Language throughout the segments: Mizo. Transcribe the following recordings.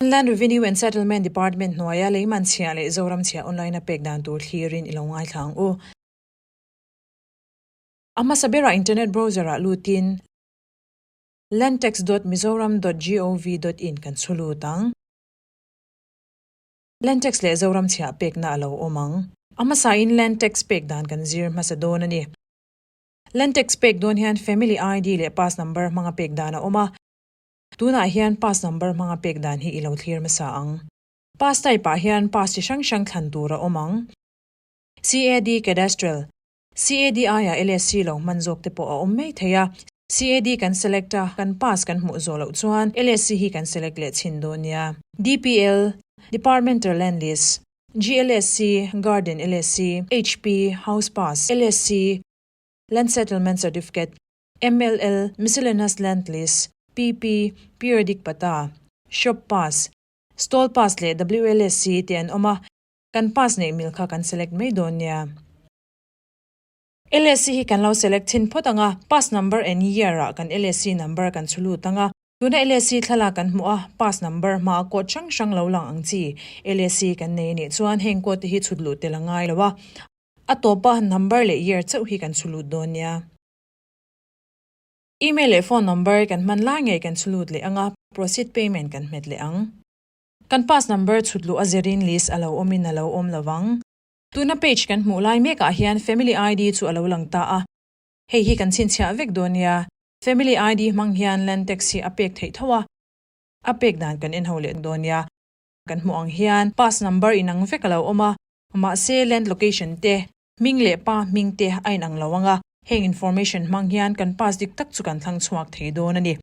Inland Revenue and Settlement Department hnuaia Leiman chhia leh Zoram chhia online-a pek dan tur thlirin i lo ngaithla ang u. A hmasa berah internet browser-ah lutin Landtax dot Mizoram dot gov dot in kan chhu lut ang. Landtax leh Zoram chhia pekna a lo awm ang. A hmasain Landtax pek dan kan zir hmasa dawn a ni. Landtax pek dawn hian Family ID leh Pass Number hmanga pek dan a awm a. Tunah hian pass number hmanga pek dan hi i lo thlir hmasa ang. Pass type ah hian pass chi hrang hrang thlan tur a awm ang. CAD Cadastral, CADI ah LSC lo hman zawk te pawh a awm mai thei a. CAD kan select a, kan pass kan hmuh zawh loh chuan LSC hi kan select leh chhin dawn nia. DPL, Departmental Land Lease, GLSC, Garden LSC, HP, House Pass, LSC, Land Settlement Certificate, MLL, Miscellaneous Land Lease, PP, Periodic Pata, Shop Pass, Stall Pass leh WLSC te an awm a, kan pass neih mil kha kan select mai dawn nia. LSC hi kan lo select chhin phawt ang a, pass number and year ah kan LSC number kan chhu lut ang a. Tuna LSC thlalak kan hmuh a, pass number hma a code hrang hrang lo lang ang chi. LSC kan nei a nih chuan heng code te hi chhut lut tel a ngai lo a, a tawpa number leh year chauh hi kan chhu lut dawn nia. Email leh phone number kan hman lai ngei kan chhu lut leh ang a, proceed payment kan hmet leh ang. Kan pass number chhut luh a zerin list a lo awmin a lo awm lo vang. Tuna page kan hmuh lai mek ah hian family ID chu a lo lang ta a, hei hi kan chhinchhiah vek dawn nia, family ID hmang hian land tax hi a pek theih tho a, a pek dan kan en ho leh dawn nia. kan hmuh ang hian pass number inang vek a lo awm a, mahse land location te, hming leh pa hming te a inang lo ang a, heng information hmang hian kan pass dik tak chu kan thlang chhuak thei dawn a ni.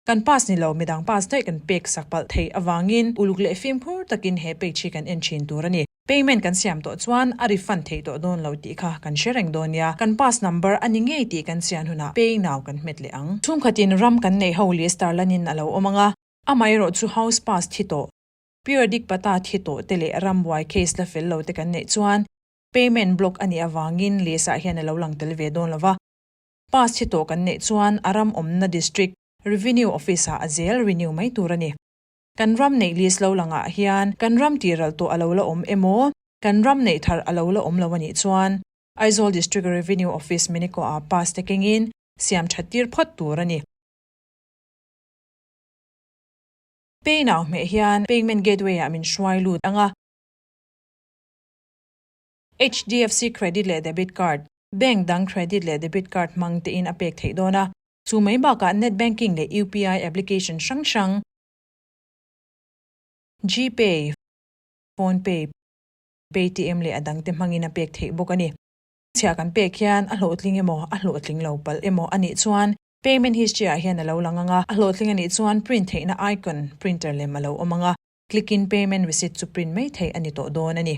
Kan pass ni lo midang pass daih kan pek sak palh thei avangin uluk leh fimkhur takin he page hi kan en thin tur a ni. Payment kan siam tawh chuan a refund thei tawh dawn lo tih kha kan hre reng dawn nia, kan pass number a ni ngei tih kan chian hunah pay now kan hmet leh ang. Chhungkhatin ram kan neih ho leh star lanin a lo awm ang a, Amaherawh chu house pass thi tawh, periodic pata thi tawh te leh ram buai case la fel lo te kan neih chuan payment block a nih avangin list ah hian a lo lang tel ve dawn lo va. Pass thi tawh kan neih chuan a ram awmna district Revenue Office ah a zel renew mai tur a ni. Kan ram neih list lo lang ah hian kan ram tih ral tawh a lo la awm emaw, kan ram neih thar a lo la awm lo a nih chuan Aizawl District Revenue Office Miniko ah pass te kengin siam that tir phawt tur a ni. Pay now hmeh hian payment gateway ah min hruai lut ang a. HDFC Credit leh Debit Card, Bank dang Credit leh Debit Card hmang te in a pek theih dawn a. Chu mai bakah Net Banking leh UPI application hrang hrang, GPay, Phone Pay, Paytm leh a dangte hmangin a pek theih bawk a ni. Chhiah kan pek hian a hlawhtling emaw a hlawhtling lo palh emaw a nih chuan Payment History ah hian a lo lang ang a. A hlawhtling a nih chuan Print theihna icon, printer lem, a lo awm ang a. Click in Payment Receipt chu print mai thei a ni tawh dawn a ni.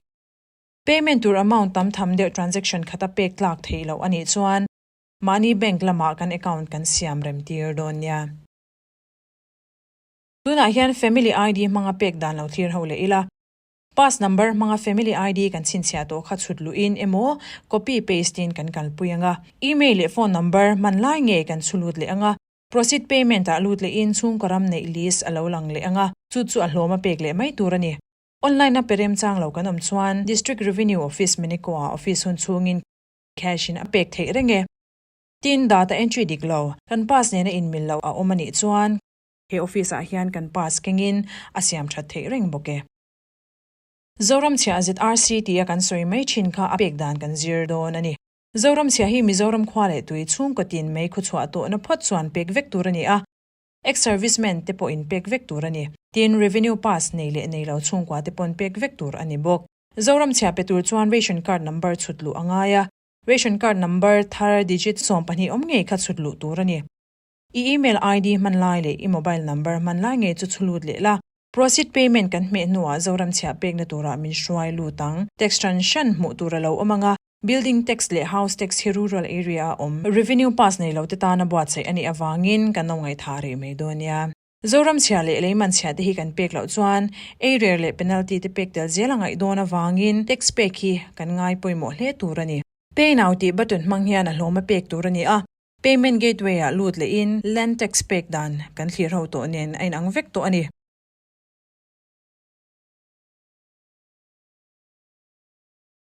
Payment tur amount tam tham deuh transaction khat a pek tlak theih loh a nih chuan mahni bank lamah kan account kan siam rem tir dawn nia. Tunah hian Family ID hmanga pek dan lo thlir ho leh ila. Pass number hmanga family ID kan chhinchhiah tawh kha chhut luhin emaw copy paste in kan kalpui anga, email leh phone number hmanlai ngei kan chhu lut leh anga, proceed payment ah lut leh in chhungkaw ram neih list a lo lang leh anga, chu chu a hlawm a pek leh mai tur a ni. Online a pe rem chang lo kan awm chuan District Revenue Office Miniko ah office hun chhung in cash in a pek theih reng e. Tin data entry dik lo, kan pass nena inmil loh a awm a nih chuan, He office ah hian kan pass keng in a siam that theih reng bawk e. Zoramchhia zrc tia kan sawi mai thin kha a pek dan kan zir dawn a ni. Zoramchhia hi Mizoram khua leh tui chhungkaw tin mai khuachhuah tawhna phawt chuan pek vek tur a ni a, ex servicemen te pawhin pek vek tur a ni, tin revenue pass nei leh nei lo chhungkua te pawn pek vek tur a ni bawk. Zoramchhia pe tur chuan ration card number chhut luh a ngai a, ration card number thar digit sawm pahnih awm ngei kha chhut luh tur a ni. I email ID hman lai leh i mobile number hman lai ngei chu chhulut leh la. Proceed payment kan hmeh hnuah Zoram chhiah pekna tura min hruai lut ang. Tax ṭan hran hmuh tur a lo awm ang a, Building Tax leh House Tax hi Rural Area a awm Revenue Pass nei lote tana buatsaih a nih avangin ka no ngaithah rih mai dawn nia. Zoramchhia leh leimanchhia te hi kan pek loh chuan eirer leh penalty te pek tel zel a ngaih dawn avangin text pek hi kan ngai pawimawh hle tur a ni. Pay Now tih button hmang hian a hlawma pek tur a ni a, payment gateway ah lut leh in len text pek dan kan thlir ho tawh nen a inang vek tawh a ni.